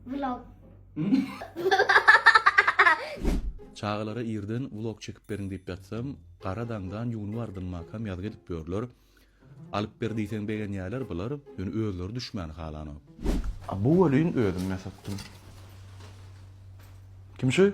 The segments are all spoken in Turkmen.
Vlog. Çagalara irden vlog çekip beriň diýip ýatsam, gara daňdan ýuwunyp ardynmakam ýazgy edip ýörler. Alyp ber diýseň begenýärler bular, ýöne özleri düşmäni halanok. A bu welin özüm ýasatdym. Kim şu?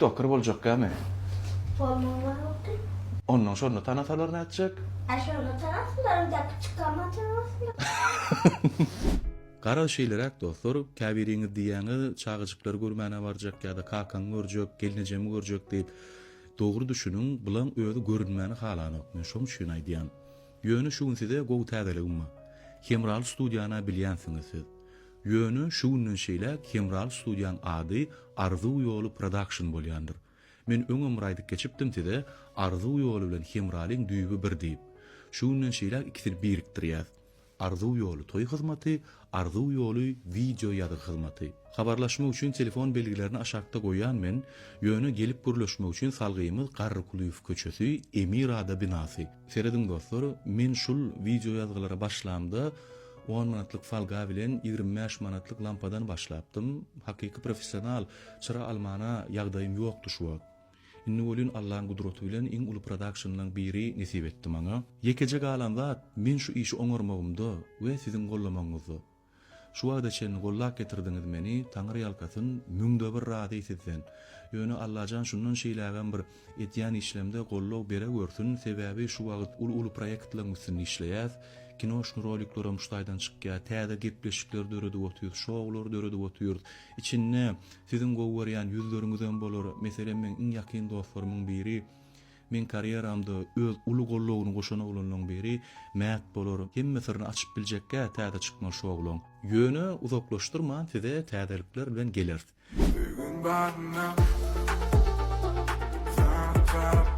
Doktor boljakgamy? Bolmagy barokdy. Ondan şonda tanasalar nätjek? A şonda tanasynlar öňdäki çykgama tanasynlar. Garaz şeýleräk dostlar, käbiriňiz diýýäňiz, çagajyklary görmäne barjak ýa-da kakaňy görjek, gelnejemi görjek diýip. Dogry düşüniň, bulaň özi görünmäni halanok, men şoň üçin aýdýan. Ýöne şu gün size gowy täzeligim bar. Hemraly studiýany-a bilýänsiňiz siz. Ýöne şu günden şeýläk Hemral studiýaň ady Arzuw ýoly production bolýandyr. Men öňem bir aýdyp geçipdim size Arzuw ýoly bilen Hemralyň düýbi bir diýip. Şu günden şeýläk ikisini birikdirýäs. Arzuw ýoly toý hyzmaty, Arzuw ýoly wideo ýazgy hyzmaty. Habarlaşmak üçin telefon belgilerini aşakda goýýan men, ýöne gelip gürleşmek üçin salgymyz Garrykulyýew köçesi, Emirada binasy. Serediň dostlar, men şul wideo ýazgylara başlamda on manatlyk folga bilen ýigrimi bäş manatlyk lampadan başlapdym, hakyky professional çyra almana ýagdaýym ýokdy şu wagt. Indi welin Allaň gudraty bilen iň uly prodakşinlaň biri nesip etdi maňa. Ýekeje galan zat men şu işi oňarmagymda we siziň gollamagyňyzda. Şu wagta çenli gollap getirdiňiz meni Taňyrýalkasyn müňde bir razy sizden. Ýöne Allajan şundan şeýlägem bir edýän işlemde gollow beregörsün sebäbi şu wagt uly uly proýektleriň üstünde işleýäs kinoşny rolikleram şu taýdan çykýa täze gepleşikler döredip otyrys şoulary döredip otyrys içinde siziň gowy görýän ýüzleriňizem bolar meselem meň iň ýakyn dostlarymyň biri Meň karýeramda öz uly goldawyny goşan oglanlaryň biri Mät bolar, hemme syryny açyp biljekgä täze çykma şu oglan. Ýöne uzaklaşdyrman size täzelikler bilen geleris. Söýgiň badyna Janyň tarap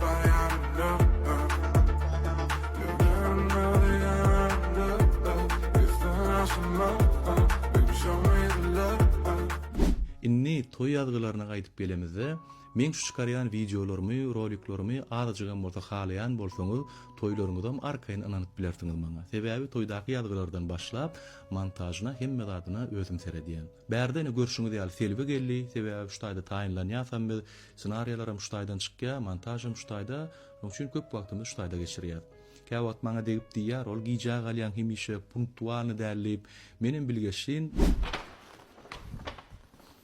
Indi toý ýazgylaryna gaýdyp gelemizde. Meň şu çykarýan wideolarymy, roliklarymy azajygam bolsa halaýan bolsaňyz, toýlaryňyzam arkaýyn ynanyp bilersiňiz maňa. Sebäbi toýdaky ýazgylardan başlap, montažyna, hemme zadyna özüm seredýän. Bärde ine görşüňiz ýaly Selbi geldi, sebäbi şu taýda taýynlanýasam biz, ssenariýalaram şu taýdan çykýar, montažam şu taýda, şonuň üçin köp wagtymyzy şu taýda geçirýäs. Käwagt maňa degip diýýär, ol gijä galýaň hemişe, punktualny däl diýip, menem bilgeşlin.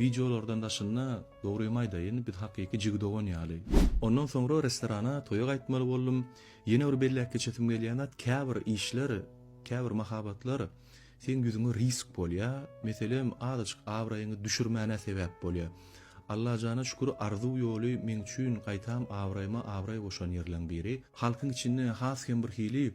Wideolardan daşynda, dogrymy aýdaýyn, biz hakyky jigi dogan ýaly. Ondan soňra restorana, toýa gaýtmaly boldum. Ýene bir belläp geçesim gelýän zat, käbir işler, käbir mahabatlar seň ýüzüňe risk bolýa, meselem, azajyk abraýyňy düşürmäne sebäp bolýa. Allajana şükür, Arzuw ýoly meň üçin gaýtam abraýyma abraý goşan ýerleriň biri. Halkyň içinde has hem birhili.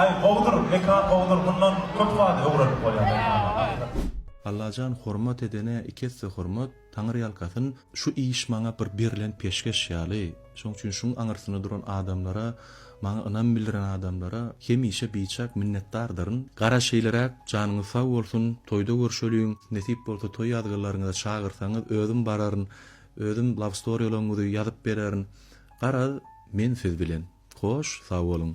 Aý gowudyr mekan gowudyr mundan köp zady öwrenip bolýar mekana. Allajan hormat edene iki esse hormat, Taňyrýalkasyn, şu iş maňa bir berlen peşgeş ýaly, şoň üçin şuň aňyrsynda duran adamlara, maňa ynam bildiren adamlara hemişe biçak minnetdardyryn. Gara şeýleräk, janyňyz sag bolsun, toýda görşeliň, nesip bolsa toý ýazgylaryňyza çagyrsaňyz özüm bararyn, özüm love storylaryňyzy ýazyp bererin, garaz men siz bilen. Hoş, sag boluň.